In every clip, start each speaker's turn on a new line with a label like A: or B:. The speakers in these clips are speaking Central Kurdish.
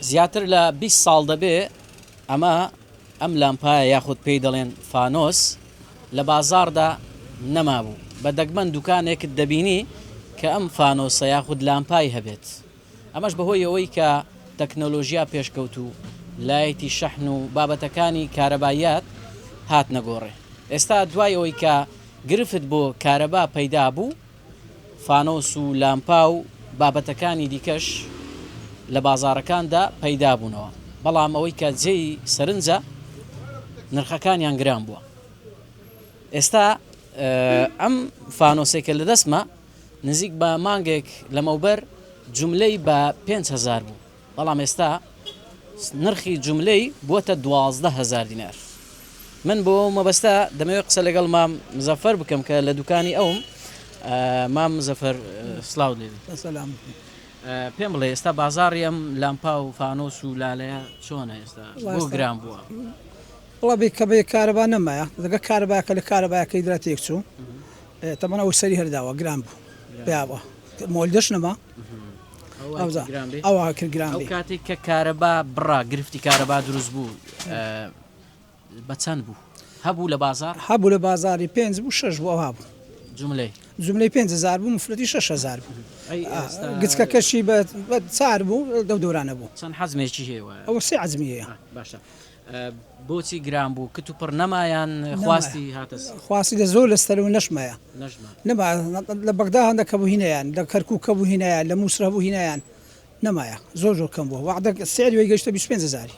A: زیاتر لە بیست ساڵ دەبێ ئەمە ئەم لامپایە یاخود پێی دەڵێن فانۆس لە بازاڕدا نەمابوو، بە دەگمەن دوکانێکت دەبینی کە ئەم فانۆسە یاخود لامپای هەبێت، ئەمەش بەهۆی ئەوەی کە تەکنۆلۆژیا پێشکەوتوو لایەتی شەحن و بابەتەکانی کارەباییات هاتنە گۆڕێ، ئێستا دوای ئەوەی کە گرفت بۆ کارەبا پەیدا بوو، فانۆس و لامپا و بابەتەکانی دیکەش لە بازاڕەکاندا پەیدابوونەوە، بەڵام ئەوەی کە جێی سەرنجە نرخەکانیان گران بووە. ئێستا ئەم فانۆسەی کە لە دەستمە نزیک بە مانگێک لەمەوبەر جوملەی بە پێنج هەزار بوو. بەڵام ئێستا نرخی جوملەی بووەتە دوازدە هەزار دینار من بۆ ئەو مەبەستە دەمەوێت قسە لەگەڵ مام مزەفەر بکەم کە لە دوکانی ئەوم مام مزەفەر سلااو لێبی سلام پێم بڵێ ئێستا بازاری ئەم لامپا و فانۆس و لالەیە چۆنە ئێستا بۆ گران بووە وڵبی
B: کە بێ کارەبا نەمایە دەگە کارەباکە لە کارەباکەی درا تێک چوو تەمەەوە سەری هەرداوە گران بوو پیاوە مۆلدەش نەما کاتێک کە کارەبا
A: بڕا گرفتی کارەبا دروست بوو بە چەند بوو هەبوو لە بازار هەبوو لە بازاری
B: پێنج بوو شش بۆ هابوو جملەی جملەی 5هزار بوو مفرەتی 6هزار بوو گچکەکەشی بە چار بوو دەو دورانە بوو چەند حەزمێکی هێوە
A: ئەو سێ عزمیە
B: باشە
A: بۆچی گران بوو کت و پڕ نەما یان خواستی هاتە سەر؟ خواستی لە زۆر لە
B: ستەرەوە نەشمەیە نەشما نەما لە بەغدا هەندە کەبوو هینەیان لە کەرکوو کەبوو هینایە لە مووسرە بوو هینایان نەمایە زۆر زۆر کەم بووە وەعدە سعری وی گەشتە 25 هزاری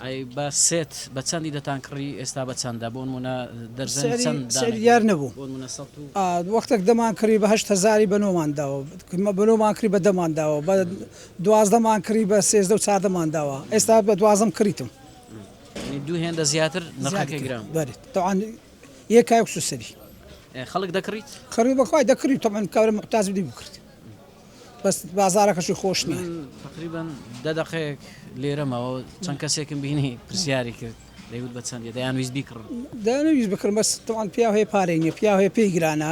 A: ئەی بە سێت بە چەندی دەتان کڕی ئێستا بە چەندە بۆ منە دەرزن سعری- چەند سعری دانە دیار نەبوو.
B: بۆ منە سەد و- آه، وەختێک دەمان کڕی بە هەشت هەزاری بە نۆمان داوە کمە بە نۆمان کڕی بە دەمان داوە بە دوازدە مان کڕی بە سێزدە و چاردە مان داوە ئێستا بە دوازدەم کڕیتم یعنی دوو
A: هێندە زیاتر نرخەکەی گران بوو. بەێت تەوان
B: یە کاک سوسری ئێ، خەڵک
A: دەکڕیت کڕی بەخوای دەکڕی
B: تەمان کارە مقتاز بدی بکرد بەس بازارەکەشی خۆش نییە من تقریبا
A: دە دەقەیەک لێرەمەوە چەند کەسێکم بینی پرسیاری کرد دەیوت بە چەندی دەیان ویست بیکڕن دەنەویست بکرم
B: بەس تەوان پیا هەیە پارەی نیە پیا هەیە پێی گرانە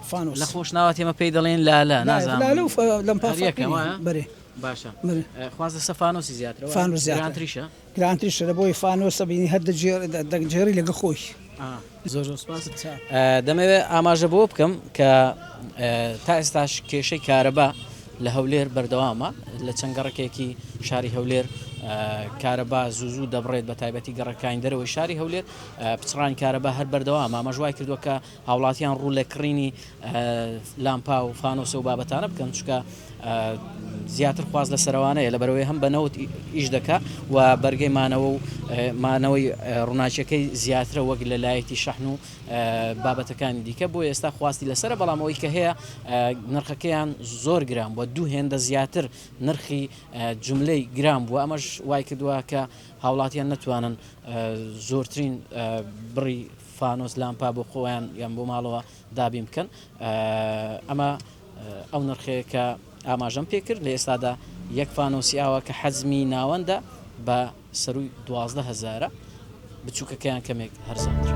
A: لە خۆشناوەت ئێمە پێی دەڵێن لالە نازانم هەریەکە وایە؟ بەێ باشە خواز لەسە فانۆسی زیاتر فانۆس زیاتریشە گرانتریشە لە بۆی
B: فانۆسە بینی هەر دەگجێری لەگە خۆش زۆر
A: زۆر سپاس دەمەوێت ئاماژە بۆ بکەم کە تا ئێستاش کێشەی کارەبا لە هەولێر بەردەوامە لە چەند گەڕکێکی شاری هەولێر کارەبا زوزو دەبڕێت بە تایبەتی گەڕەکانی دەرەوەی شاری هەولێر پچڕان کارەبا هەر بەردەوام ئامەژوای کردووە کە هاوڵاتیان ڕوو لە کڕینی لامپا و فانۆسە و بابەتانە بکەن چکە زیاتر خواست لە سەروانەیە لە بەرەوەی هەم بە نەوت ئیش دەکا و بەرگەی مانەوە و مانەوەی ڕووناچەکەی زیاترە وەک لە لایەتی شەحن و بابەتەکانی دیکە بۆ ئێستا خواستی لەسرە بەڵام ئەوی کە هەیە نرخەکەیان زۆر گران بووە دوو هێندە زیاتر نرخی جملەی گران بووە ئەمەش وای کردووە کە هاوڵاتیان نتوانن زۆرترین بڕی فانۆس لامپا بۆ خۆیان یان بۆ ماڵەوە دابین بکەن ئەمە ئەو نرخەیە کە ئاماژەم پێکرد لە ئێستادا یەک فانۆسی ئاوا کە حەزمی ناوەندە بە سەروی دوازدە هزارە بچووکەکەیان کەمێک هەرزانتر.